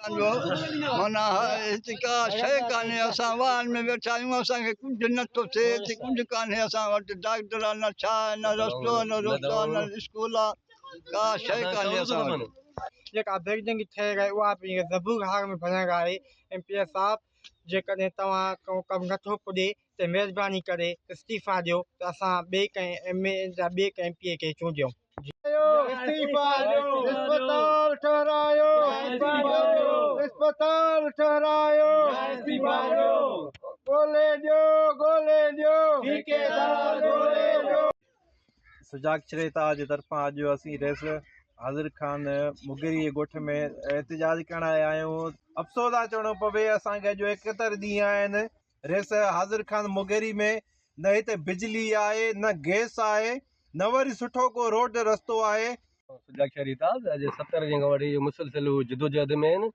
اسان جو معنيٰ هتي ڪا شيء ڪانهي، اسان واهن ۾ ويٺا آهيون، اسان کي ڪجهه نه ٿو ٿئي، هتي ڪجهه ڪانهي، اسان وٽ ڊاڪٽر آهي نه ڇا آهي، نه رستو آهي، نه روٽو آهي، نه اسڪول آهي، ڪا شيء ڪانهي اسان وٽ. جيڪا بيگنگ ٿئي آهي اها به زبون هاڻ ۾ ڀڃڪ آهي، ايم پي اي صاحب جيڪڏهن توهان ڪو ڪم نٿو پڄي ته مهرباني ڪري استعيفيٰ ڏيو ته اسان ٻئي ڪنهن ايم اي يا ٻئي ڪنهن ايم پي اي کي چونڊيون. سجاڳ ڇريتا جي طرفان اڄ اسين رئيس حاضر خان مغيري جي ڳوٺ ۾ احتجاج ڪرڻ آيا آهيون افسوس آ چوڻو پوي اسان کي اڄ ايڪهتر ڏينهن آهن ريس حاضر خان مغيري ۾ نه هتي بجلي آهي نه گئس آهي نه وري سٺو ڪو روڊ رستو آهي. سجا شهري ته اڄ ستر جنگ وٺي مسلسل جدوجهد ۾ آهن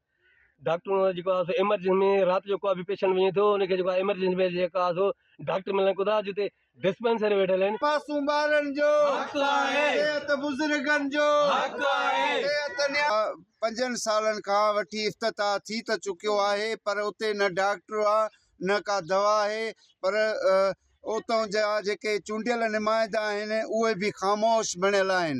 ڊاڪٽرن جو جيڪو آسو ايمرجنسي ۾ رات جو ڪو به پيشنٽ وڃي ٿو ان کي جيڪو آهي ايمرجنسي ۾ جيڪو آسو ڊاڪٽر ملن ڪو ٿا جتي ڊسپينسري ويٺل آهن. معصوم ٻارن جو حق آهي. صحت بزرگن جو حق آهي. صحت نيا. پنجن سالن کان وٺي افتتاح ٿي ته چڪيو آهي پر اتي نه ڊاڪٽر آ نه ڪا دوا آهي پر اتون جا جيڪي چونڊيل نمائندا آهن اهي به خاموش بڻيل آهن.